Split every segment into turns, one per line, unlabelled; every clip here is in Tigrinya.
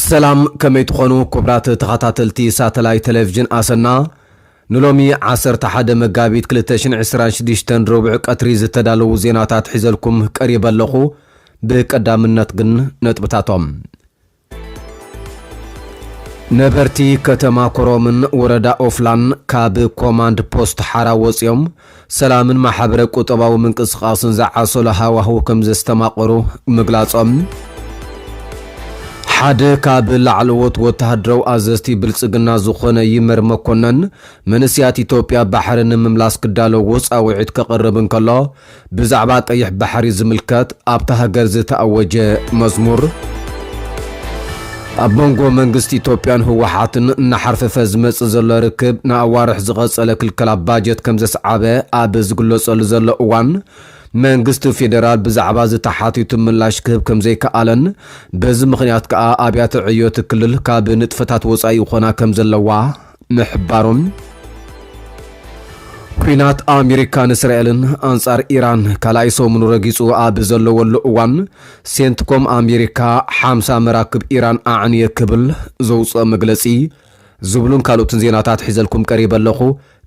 ሰላም ከመይ ትኾኑ ክቡራት ተኸታተልቲ ሳተላይ ቴሌቭዥን ኣሰና ንሎሚ 11 መጋቢት 2026 ረቡዕ ቀትሪ ዝተዳለዉ ዜናታት ሒዘልኩም ቀሪበ ኣለኹ። ብቀዳምነት ግን ነጥብታቶም ነበርቲ ከተማ ኮረምን ወረዳ ኦፍላን ካብ ኮማንድ ፖስት ሓራ ወፂኦም ሰላምን ማሕበረ ቁጠባዊ ምንቅስቓስን ዝዓሰሎ ሃዋህው ከምዘስተማቐሩ ምግላፆም ሓደ ካብ ላዕለዎት ወተሃደራዊ ኣዘዝቲ ብልፅግና ዝኾነ ይመር መኮነን መንእስያት ኢትዮጵያ ባሕሪ ንምምላስ ክዳለዎ ፃውዒት ከቕርብ እንከሎ ብዛዕባ ቀይሕ ባሕሪ ዝምልከት ኣብታ ሃገር ዝተኣወጀ መዝሙር፣ ኣብ መንጎ መንግስቲ ኢትዮጵያን ህወሓትን እናሓርፈፈ ዝመጽእ ዘሎ ርክብ ንኣዋርሕ ዝቐጸለ ክልከላ ባጀት ከምዘስዓበ ኣብ ዝግለጸሉ ዘሎ እዋን መንግስቲ ፌደራል ብዛዕባ እዚ ተሓቲቱ ምላሽ ክህብ ከምዘይከኣለን በዚ ምኽንያት ከኣ ኣብያተ ዕዮ'ቲ ክልል ካብ ንጥፈታት ወጻኢ ይኾና ከምዘለዋ ምሕባሮም፣ ኲናት ኣሜሪካን እስራኤልን ኣንጻር ኢራን ካልኣይ ሰሙኑ ረጊጹ ኣብ ዘለወሉ እዋን፣ ሴንትኮም ኣሜሪካ ሓምሳ መራክብ ኢራን ኣዕንየ ክብል ዘውጽኦ መግለጺ ዝብሉን ካልኦትን ዜናታት ሒዘልኩም ቀሪበ ኣለኹ።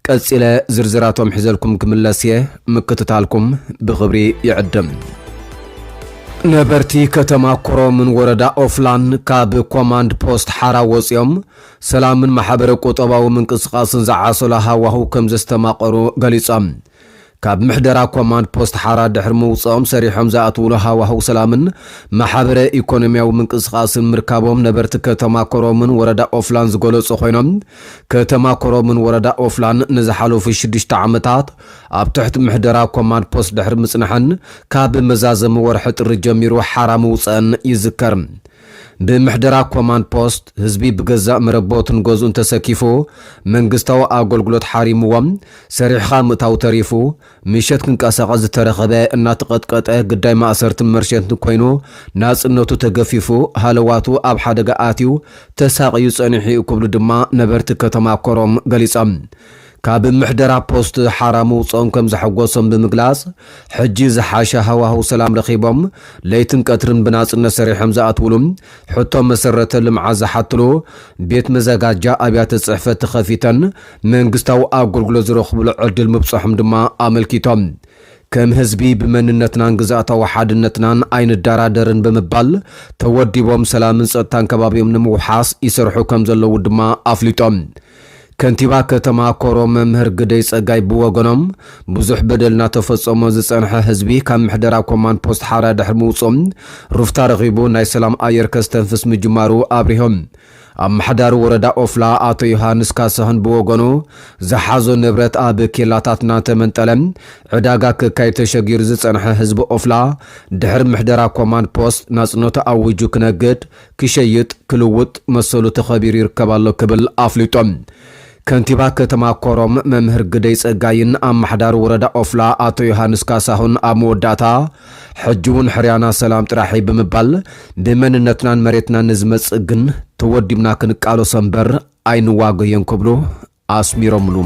ቀጺለ ዝርዝራቶም ሒዘልኩም ክምለስ እየ፣ ምክትታልኩም ብኽብሪ ይዕድም። ነበርቲ ከተማ ኮረምን ወረዳ ኦፍላን ካብ ኮማንድ ፖስት ሓራ ወጺኦም ሰላምን ማሕበረ ቁጠባዊ ምንቅስቓስን ዝዓሰሎ ሃዋህው ከም ዘስተማቐሩ ገሊጾም። ካብ ምሕደራ ኮማንድ ፖስት ሓራ ድሕሪ ምውጽኦም ሰሪሖም ዝኣትውሉ ሃዋህው ሰላምን ማሕበረ ኢኮኖሚያዊ ምንቅስቓስን ምርካቦም ነበርቲ ከተማ ኮረምን ወረዳ ኦፍላን ዝገለጹ ኮይኖም ከተማ ኮረምን ወረዳ ኦፍላን ንዝሓለፉ ሽዱሽተ ዓመታት ኣብ ትሕቲ ምሕደራ ኮማንድ ፖስት ድሕሪ ምጽንሐን ካብ መዛዘሚ ወርሒ ጥሪ ጀሚሩ ሓራ ምውጸኣን ይዝከር። ብምሕደራ ኮማንድ ፖስት ህዝቢ ብገዛእ መረቦቱን ገዝኡን ተሰኪፉ መንግስታዊ ኣጎልግሎት ሓሪምዎ ሰሪሕኻ ምእታው ተሪፉ ምሸት ክንቀሳቐስ ዝተረኸበ እናተቐጥቀጠ ግዳይ ማእሰርትን መርሸንትን ኮይኑ ናጽነቱ ተገፊፉ ሃለዋቱ ኣብ ሓደጋ ኣትዩ ተሳቕዩ ጸኒሑ'ዩ ክብሉ ድማ ነበርቲ ከተማ ኮረም ገሊጾም። ካብ ምሕደራ ፖስት ሓራ ምውፅኦም ከምዘሐጎሶም ብምግላፅ፣ ሕጂ ዝሓሸ ሃዋህው ሰላም ረኺቦም ለይትን ቀትርን ብናፅነት ሰሪሖም ዝኣትውሉ፣ ሕቶ መሰረተ ልምዓት ዝሓትሉ ቤት መዘጋጃ ኣብያተ ፅሕፈት ተኸፊተን መንግስታዊ ኣገልግሎት ዝረኽብሉ ዕድል ምብፀሖም ድማ ኣመልኪቶም። ከም ህዝቢ ብመንነትናን ግዝኣታዊ ሓድነትናን ኣይንደራደርን ብምባል ተወዲቦም ሰላምን ፀጥታን ከባቢኦም ንምውሓስ ይሰርሑ ከምዘለዉ ድማ ኣፍሊጦም። ከንቲባ ከተማ ኮሮ መምህር ግደይ ፀጋይ ብወገኖም፣ ብዙሕ በደል እናተፈፀሞ ዝፀንሐ ህዝቢ ካብ ምሕደራ ኮማንድ ፖስት ሓራ ድሕሪ ምውፅኡ ሩፍታ ረኺቡ ናይ ሰላም ኣየር ከስተንፍስ ምጅማሩ ኣብሪሆም። ኣመሓዳሪ ወረዳ ኦፍላ ኣቶ ዮሃንስ ካሳሁን ብወገኑ፣ ዝሓዞ ንብረት ኣብ ኬላታት እናተመንጠለ ዕዳጋ ክካየድ ተሸጊሩ ዝፀንሐ ህዝቢ ኦፍላ ድሕሪ ምሕደራ ኮማንድ ፖስት ናፅነቱ ኣዊጁ ክነግድ ክሸይጥ ክልውጥ መሰሉ ተኸቢሩ ይርከብ ኣሎ ክብል ኣፍሊጡ። ከንቲባ ከተማ ኮረም መምህር ግደይ ጸጋይን ኣማሓዳሪ ወረዳ ኦፍላ ኣቶ ዮሃንስ ካሳሁን ኣብ መወዳእታ ሕጂ እውን ሕርያና ሰላም ጥራሕ እዩ ብምባል ብመንነትናን መሬትናን ንዝመጽእ ግን ተወዲብና ክንቃለሶ እምበር ኣይንዋገዮን ክብሉ ኣስሚሮምሉ።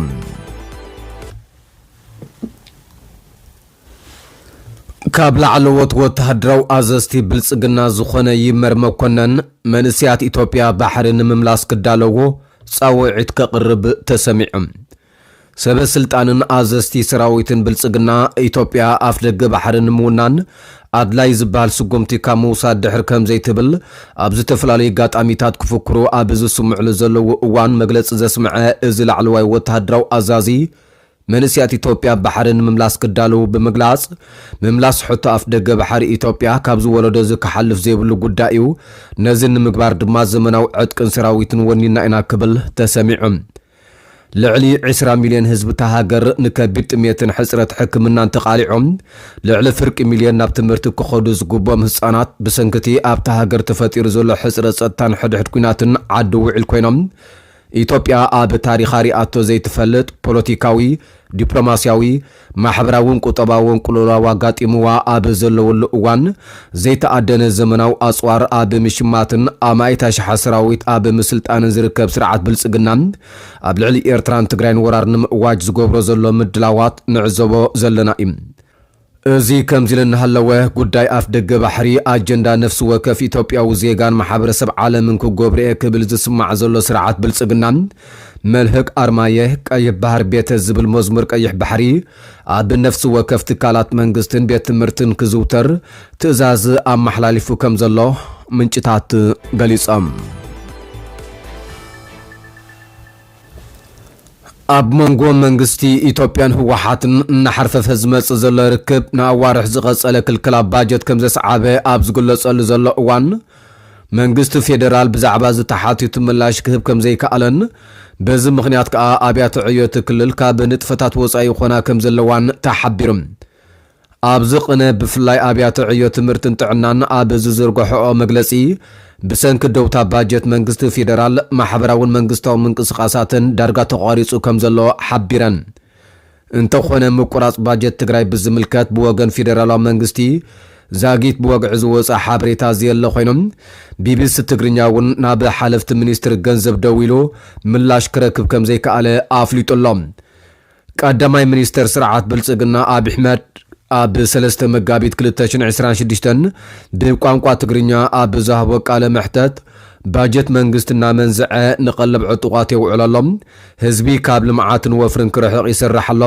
ካብ ላዕለዎት ወተሃደራዊ ኣዘዝቲ ብልጽግና ዝኾነ ይመር መኮነን፣ መንእሰያት ኢትዮጵያ ባሕሪ ንምምላስ ክዳለዎ ጻውዒት ከቕርብ ተሰሚዑ። ሰበ ስልጣንን ኣዘዝቲ ሰራዊትን ብልጽግና፣ ኢትዮጵያ ኣፍደገ ባሕሪ ንምውናን፣ ኣድላይ ዝበሃል ስጉምቲ ካብ ምውሳድ ድሕር ከም ዘይትብል ኣብ ዝተፈላለዩ ኣጋጣሚታት ክፍክሩ ኣብ ዝስምዕሉ ዘለዉ እዋን መግለጺ ዘስምዐ እዚ ላዕለዋይ ወተሃደራዊ ኣዛዚ፣ መንእሰያት ኢትዮጵያ ባሕሪ ንምምላስ ክዳለዉ ብምግላጽ፣ ምምላስ ሕቶ ኣፍደገ ባሕሪ ኢትዮጵያ ካብዚ ወለዶ እዚ ክሓልፍ ዘይብሉ ጉዳይ'ዩ፣ ነዚ ንምግባር ድማ ዘመናዊ ዕጥቅን ሰራዊትን ወኒንና ኢና ክብል ተሰሚዑ። ልዕሊ ዕስራ ሚልዮን ህዝቢ እታ ሃገር ንከቢድ ጥምየትን ሕጽረት ሕክምናን ተቓሊዖም፣ ልዕሊ ፍርቂ ሚልዮን ናብ ትምህርቲ ክኸዱ ዝግብኦም ህጻናት ብሰንኪ'ቲ ኣብታ ሃገር ተፈጢሩ ዘሎ ሕጽረት ጸጥታን ሕድሕድ ኲናትን ዓዲ ውዒል ኮይኖም። ኢትዮጵያ ኣብ ታሪኻ ሪኣቶ ዘይትፈልጥ ፖለቲካዊ፣ ዲፕሎማስያዊ፣ ማሕበራውን ቁጠባውን ቅልውላው ኣጋጢምዋ ኣብ ዘለወሉ እዋን፣ ዘይተኣደነ ዘመናዊ ኣጽዋር ኣብ ምሽማትን ኣማኢት ኣሽሓት ሰራዊት ኣብ ምስልጣንን ዝርከብ ስርዓት ብልጽግና፣ ኣብ ልዕሊ ኤርትራን ትግራይን ወራር ንምእዋጅ ዝገብሮ ዘሎ ምድላዋት ንዕዘቦ ዘለና እዩ። እዚ ከምዚ'ሉ እናሃለወ፣ ጉዳይ ኣፍደገ ባሕሪ፣ ኣጀንዳ ነፍሲ ወከፍ ኢትዮጵያዊ ዜጋን ማሕበረሰብ ዓለምን ክጎብር'የ ክብል ዝስማዕ ዘሎ ስርዓት ብልጽግና፣ መልህቅ ኣርማየ ቀይሕ ባህር ቤተ ዝብል መዝሙር ቀይሕ ባሕሪ ኣብ ነፍሲ ወከፍ ትካላት መንግስትን ቤት ትምህርትን ክዝውተር ትእዛዝ ኣመሓላሊፉ ከም ዘሎ ምንጭታት ገሊጾም። ኣብ መንጎ መንግስቲ ኢትዮጵያን ህወሓትን እናሓርፈፈ ዝመፅእ ዘሎ ርክብ ንኣዋርሕ ዝቐፀለ ክልክላ ባጀት ከም ዘስዓበ ኣብ ዝግለፀሉ ዘሎ እዋን መንግስቲ ፌደራል ብዛዕባ'ዚ ተሓቲቱ ምላሽ ክህብ ከምዘይከኣለን በዚ ምኽንያት ከኣ ኣብያተ ዕዮ'ቲ ክልል ካብ ንጥፈታት ወጻኢ ይኾና ከምዘለዋን ተሓቢሩ። ኣብዚ ቕነ ብፍላይ ኣብያተ ዕዮ ትምህርትን ጥዕናን ኣብ ዝዝርገሐኦ መግለጺ ብሰንኪ ደውታ ባጀት መንግስቲ ፌደራል ማሕበራውን መንግስታዊ ምንቅስቓሳተን ዳርጋ ተቋሪጹ ከምዘሎ ሓቢረን። እንተኾነ ምቁራፅ ባጀት ትግራይ ብዝምልከት ብወገን ፌዴራላዊ መንግስቲ ዛጊት ብወግዒ ዝወፀ ሓበሬታ ዘየለ ኮይኑ ቢቢሲ ትግርኛ እውን ናብ ሓለፍቲ ሚኒስትሪ ገንዘብ ደዊሉ ምላሽ ክረክብ ከምዘይከኣለ ኣፍሊጡ ኣሎ። ቀዳማይ ሚኒስትር ስርዓት ብልፅግና ኣብይ ኣሕመድ ኣብ ሰለስተ መጋቢት ክልተ ሽሕን ዕስራን ሽዱሽተን ብቋንቋ ትግርኛ ኣብ ዝሃቦ ቃለ መሕተት ባጀት መንግስቲ እናመንዘዐ ንቀለብ ዕጡቓት የውዕሎ ኣሎ፣ ህዝቢ ካብ ልምዓትን ወፍርን ክርሕቕ ይስራሕ ኣሎ፣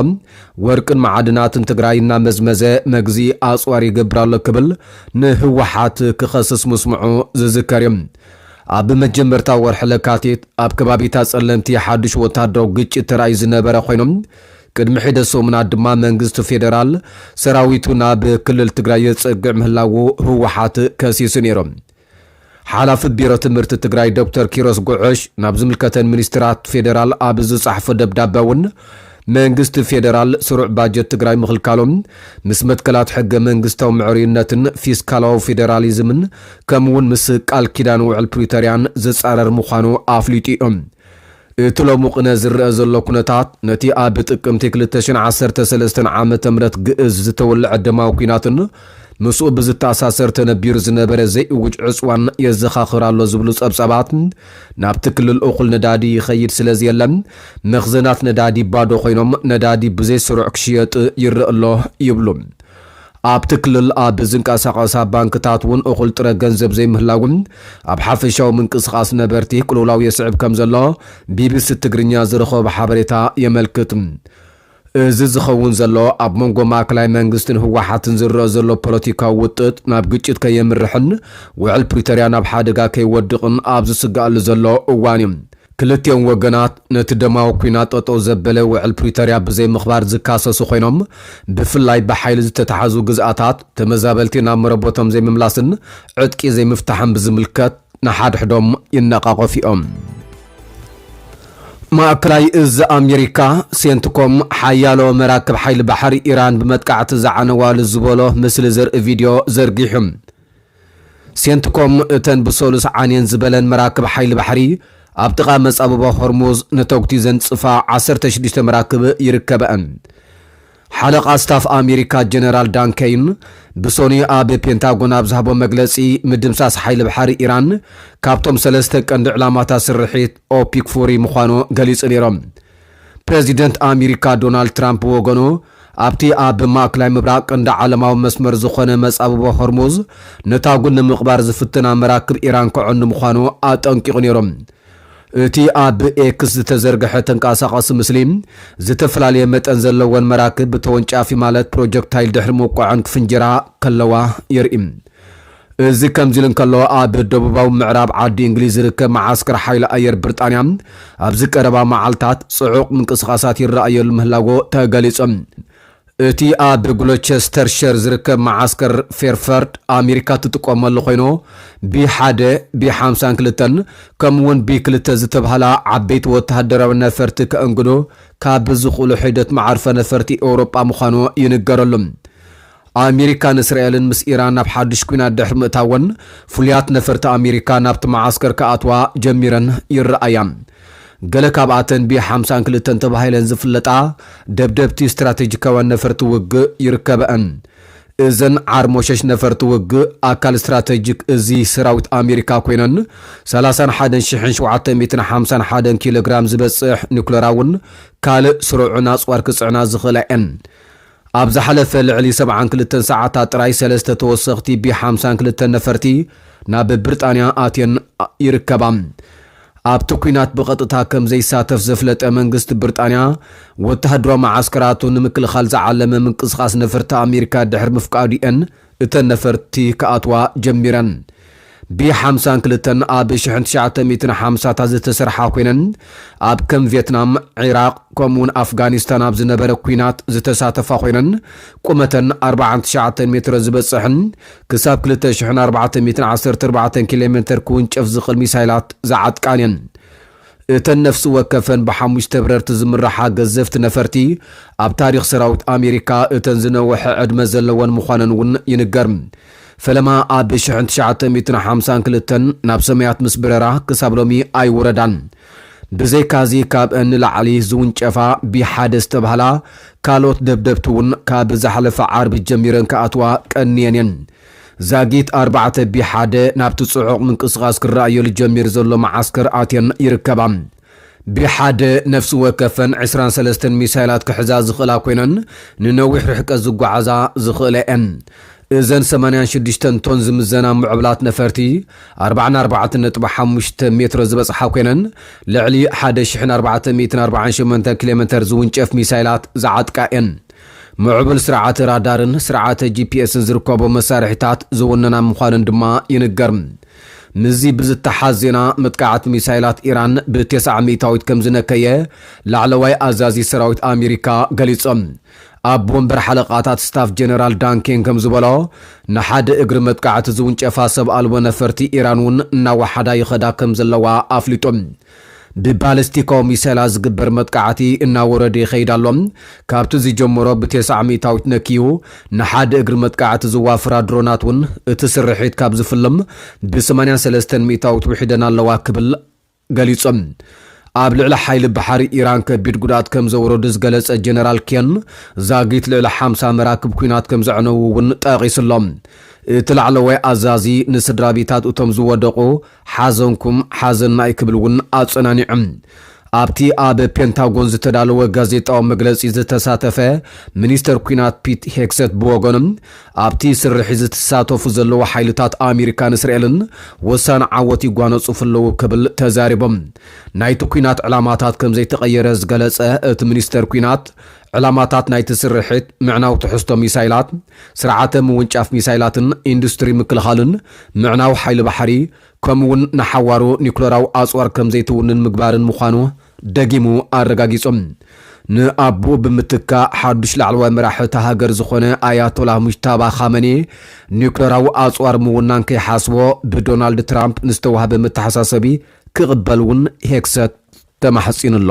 ወርቅን መዓድናትን ትግራይ እናመዝመዘ መግዝኢ ኣፅዋር ይገብር ኣሎ ክብል ንህወሓት ክኸስስ ምስምዑ ዝዝከር እዩ። ኣብ መጀመርታ ወርሒ ለካቲት ኣብ ከባቢታት ፀለምቲ ሓዱሽ ወታደራዊ ግጭት ተራእዩ ዝነበረ ኾይኑ ቅድሚ ሒደት ሰሙናት ድማ መንግስቲ ፌደራል ሰራዊቱ ናብ ክልል ትግራይ የፀግዕ ምህላዉ ህወሓት ከሲሱ ነይሩ። ሓላፊ ቢሮ ትምህርቲ ትግራይ ዶክተር ኪሮስ ጉዕሽ ናብ ዝምልከተን ሚኒስትራት ፌዴራል ኣብ ዝፀሓፎ ደብዳበ እውን መንግስቲ ፌዴራል ስሩዕ ባጀት ትግራይ ምኽልካሉ ምስ መትከላት ሕገ መንግስታዊ ምዕርዩነትን ፊስካላዊ ፌዴራሊዝምን ከምኡ እውን ምስ ቃል ኪዳን ውዕል ፕሪቶሪያን ዝፃረር ምዃኑ ኣፍሊጡ እዩ። እቲ ሎሚ ቅነ ዝረኣ ዘሎ ኩነታት፣ ነቲ ኣብ ጥቅምቲ ክልተ ሽሕን ዓሰርተ ሰለስተን ዓመተ ምህረት ግእዝ ዝተወለዐ ደማዊ ኲናትን ምስኡ ብዝተኣሳሰር ተነቢሩ ዝነበረ ዘይእዉጅ ዕጽዋን የዘኻኽር ኣሎ ዝብሉ ጸብጻባት፣ ናብቲ ክልል እኹል ነዳዲ ይኸይድ ስለዘየለ መኽዘናት ነዳዲ ባዶ ኮይኖም ነዳዲ ብዘይ ስሩዕ ክሽየጥ ይረኣ ኣሎ ይብሉ። ኣብቲ ክልል ኣብ ዝንቀሳቐሳ ባንክታት እውን እኹል ጥረ ገንዘብ ዘይምህላዉ ኣብ ሓፈሻዊ ምንቅስቓስ ነበርቲ ቅልውላው የስዕብ ከምዘሎ ቢቢሲ ትግርኛ ዝረኸቦ ሓበሬታ የመልክት። እዚ ዝኸውን ዘሎ ኣብ መንጎ ማእከላይ መንግስትን ህወሓትን ዝረኣ ዘሎ ፖለቲካዊ ውጥጥ ናብ ግጭት ከየምርሕን ውዕል ፕሪቶርያ ናብ ሓደጋ ከይወድቕን ኣብ ዝስገኣሉ ዘሎ እዋን እዩ። ክልቲኦም ወገናት ነቲ ደማዊ ኲናት ጠጠው ዘበለ ውዕል ፕሪቶርያ ብዘይምኽባር ዝካሰሱ ኮይኖም፣ ብፍላይ ብሓይሊ ዝተትሓዙ ግዝኣታት ተመዛበልቲ ናብ መረበቶም ዘይምምላስን ዕጥቂ ዘይምፍታሕን ብዝምልከት ንሓድሕዶም ይነቓቐፉ'ዮም። ማእከላይ እዝ ኣሜሪካ፣ ሴንትኮም፣ ሓያሎ መራክብ ሓይሊ ባሕሪ ኢራን ብመጥቃዕቲ ዝዓነዋ'ሉ ዝበሎ ምስሊ ዘርኢ ቪድዮ ዘርጊሑ። ሴንትኮም እተን ብሰሉስ ዓንየን ዝበለን መራክብ ሓይሊ ባሕሪ ኣብ ጥቓ መጻብቦ ሆርሙዝ ንተጉቲ ዘንጽፋ ዓሰርተ ሽዱሽተ መራክብ ይርከበኣን። ሓለቓ ስታፍ ኣሜሪካ ጀነራል ዳን ከይን ብሰኑይ ኣብ ፔንታጎን ኣብ ዝሃቦ መግለጺ ምድምሳስ ሓይሊ ባሕሪ ኢራን ካብቶም ሰለስተ ቀንዲ ዕላማታት ስርሒት ኦፒክ ፉሪ ምዃኑ ገሊጹ ነይሮም። ፕረዚደንት ኣሚሪካ ዶናልድ ትራምፕ ብወገኑ፣ ኣብቲ ኣብ ማእክላይ ምብራቕ ቀንዲ ዓለማዊ መስመር ዝኾነ መጻብቦ ሆርሙዝ ነታጒ ንምቕባር ዝፍትና መራክብ ኢራን ከዕኑ ምዃኑ ኣጠንቂቑ ነይሩ። እቲ ኣብ ኤክስ ዝተዘርግሐ ተንቀሳቓሲ ምስሊ፣ ዝተፈላለየ መጠን ዘለወን መራክብ ብተወንጫፊ ማለት ፕሮጀክታይል ድሕሪ ምውቃዐን ክፍንጅራ ከለዋ የርኢ። እዚ ከምዚሉ እንከሎ፣ ኣብ ደቡባዊ ምዕራብ ዓዲ እንግሊዝ ዝርከብ መዓስከር ሓይሊ ኣየር ብርጣንያ፣ ኣብዚ ቀረባ መዓልታት ጽዑቕ ምንቅስቓሳት ይረኣየሉ ምህላዎ ተገሊጹ። እቲ ኣብ ግሎቸስተርሸር ዝርከብ መዓስከር ፌርፈርድ፣ ኣሜሪካ እትጥቀመሉ ኮይኑ፣ ቢ ሓደ፣ ቢ ሓምሳን ክልተን፣ ከምኡ'ውን ቢ ክልተ ዝተባህላ ዓበይቲ ወተሃደራውያን ነፈርቲ ከእንግዱ ካብ ዝኽእሉ ሒደት መዓርፎ ነፈርቲ ኤውሮጳ ምዃኑ ይንገረሉ። ኣሚሪካን እስራኤልን ምስ ኢራን ናብ ሓዱሽ ኲናት ድሕሪ ምእታወን፣ ፍሉያት ነፈርቲ ኣሚሪካ ናብቲ መዓስከር ክኣትዋ ጀሚረን ይረኣያ። ገለ ካብኣተን ቢ ሓምሳን ክልተን ተባሂለን ዝፍለጣ ደብደብቲ ስትራተጂካውያን ነፈርቲ ውግእ ይርከበኣን። እዘን ዓርሞሸሽ ነፈርቲ ውግእ ኣካል ስትራተጂክ እዚ ሰራዊት ኣሚሪካ ኮይነን፣ ሰላሳን ሓደን ሽሕን ሸውዓተ ሚእትን ሓምሳን ሓደን ኪሎግራም ዝበጽሕ ኒኩለራውን ካልእ ስሩዕን ኣጽዋር ክጽዕና ዝኽእላ እየን። ኣብ ዝሓለፈ ልዕሊ ሰብዓን ክልተን ሰዓታት ጥራይ ሰለስተ ተወሰኽቲ ቢ ሓምሳን ክልተን ነፈርቲ ናብ ብርጣንያ ኣትየን ይርከባ። ኣብቲ ኲናት ብቐጥታ ከም ዘይሳተፍ ዘፍለጠ መንግስቲ ብርጣንያ፣ ወተሃደራዊ መዓስከራቱ ንምክልኻል ዝዓለመ ምንቅስቓስ ነፈርቲ ኣሜሪካ ድሕሪ ምፍቃዱ'የን እተን ነፈርቲ ክኣትዋ ጀሚረን ብ ሓምሳን ክልተን ኣብ ሽሕን ትሽዓተ ሚእትን ሓምሳታት ዝተሰርሓ ኮይነን ኣብ ከም ቬትናም፣ ዒራቕ ከምኡ'ውን ኣፍጋኒስታን ኣብ ዝነበረ ኲናት ዝተሳተፋ ኮይነን ቁመተን ኣርብዓን ትሽዓተን ሜትሮ ዝበጽሕን ክሳብ ክልተ ሽሕን ኣርባዕተ ሚእትን ዓሰርተ ኣርባዕተን ኪሎሜተር ክውንጨፍ ዝኽእል ሚሳይላት ዝዓጥቃን እየን። እተን ነፍሲ ወከፈን ብሓሙሽተ ብረርቲ ዝምራሓ ገዘፍቲ ነፈርቲ፣ ኣብ ታሪኽ ሰራዊት ኣሜሪካ እተን ዝነውሐ ዕድመ ዘለወን ምዃነን እውን ይንገር። ፈለማ ኣብ ሽሕን ትሽዓተ ሚእትን ሓምሳን ክልተን ናብ ሰማያት ምስ በረራ ክሳብ ሎሚ ኣይወረዳን። ብዘይካዚ ካብእን ንላዕሊ ዝውንጨፋ ቢ ሓደ ዝተብሃላ ካልኦት ደብደብቲ እውን ካብ ዝሓለፈ ዓርቢ ጀሚረን ክኣትዋ ቀንየን እየን። ዛጊት ኣርባዕተ ብ ሓደ ናብቲ ጽዑቕ ምንቅስቓስ ክረኣየሉ ጀሚሩ ዘሎ መዓስከር ኣትየን ይርከባ። ብ ሓደ ነፍሲ ወከፈን ዕስራን ሰለስተን ሚሳይላት ክሕዛ ዝኽእላ ኰይነን ንነዊሕ ርሕቀት ዝጓዓዛ ዝኽእላ እየን። እዘን ሰማንያን ሽዱሽተን ቶን ዝምዘና ምዕቡላት ነፈርቲ ኣርብዓን ኣርባዕተን ነጥቢ ሓሙሽተ ሜትሮ ዝበጽሓ ኰይነን ልዕሊ ሓደ ሽሕን ኣርባዕተ ሚእትን ኣርብዓን ሸሞንተን ኪሎሜተር ዝውንጨፍ ሚሳይላት ዝዓጥቃ እየን። ምዕቡል ስርዓተ ራዳርን ስርዓተ ጂፒኤስን ዝርከቦም መሳርሒታት ዝውንና ምዃነን ድማ ይንገር። ምስዚ ብዝተሓዝ ዜና መጥቃዕቲ ሚሳይላት ኢራን ብቴስዓ ሚእታዊት ከምዝነከየ ላዕለዋይ ኣዛዚ ሰራዊት ኣሚሪካ ገሊጹ። ኣቦ ወንበር ሓለቓታት ስታፍ ጀነራል ዳን ኬን ከምዝበሎ ንሓደ እግሪ መጥቃዕቲ ዝውንጨፋ ሰብ ኣልቦ ነፈርቲ ኢራን'ውን እናወሓዳ ይኸዳ ከምዘለዋ ኣፍሊጡ። ብባለስቲኮ ሚሰላ ዝግበር መጥቃዕቲ እናወረደ ይኸይድ ኣሎ። ካብቲ ዝጀመሮ ብቴስዓ ሚእታዊት ነክዩ ንሓደ እግሪ መጥቃዕቲ ዝዋፍራ ድሮናት ውን እቲ ስርሒት ካብ ዝፍልም ብስማንያ ሰለስተን ሚእታዊት ውሒደን ኣለዋ ክብል ገሊጹ። ኣብ ልዕሊ ሓይሊ ባሕሪ ኢራን ከቢድ ጉድኣት ከም ዘውረዱ ዝገለጸ ጀነራል ኬን ዛጊት ልዕሊ ሓምሳ መራክብ ኲናት ከም ዘዕነዉ ውን ጠቒሱ'ሎ። እቲ ላዕለዋይ ኣዛዚ ንስድራቤታት እቶም ዝወደቑ፣ ሓዘንኩም ሓዘና'ዩ ክብል እውን ኣጸናኒዑ። ኣብቲ ኣብ ፔንታጎን ዝተዳለወ ጋዜጣዊ መግለጺ ዝተሳተፈ ሚኒስተር ኲናት ፒት ሄግሰት ብወገኑ፣ ኣብቲ ስርሒት ዝትሳተፉ ዘለዉ ሓይልታት ኣሜሪካን እስራኤልን ወሳኒ ዓወት ይጓነጽፉ ኣለዉ ክብል ተዛሪቡ። ናይቲ ኲናት ዕላማታት ከምዘይተቐየረ ዝገለጸ እቲ ሚኒስተር ኲናት፣ ዕላማታት ናይቲ ስርሒት ምዕናው ትሕዝቶ ሚሳይላት፣ ስርዓተ ምውንጫፍ ሚሳይላትን ኢንዱስትሪ ምክልኻልን፣ ምዕናው ሓይሊ ባሕሪ፣ ከምኡ'ውን ንሓዋሩ ኒዩክለራዊ ኣጽዋር ከም ዘይትውንን ምግባርን ምዃኑ ደጊሙ ኣረጋጊጹ። ንኣቦኡ ብምትካእ ሓዱሽ ላዕለዋይ መራሒ እታ ሃገር ዝዀነ ኣያቶላህ ሙጅታባ ኻመኒ፣ ኒዩክለራዊ ኣጽዋር ምውናን ከይሓስቦ ብዶናልድ ትራምፕ ንዝተዋህበ መተሓሳሰቢ ክቕበል'ውን ሄግሰት ተማሕጺኑ ኣሎ።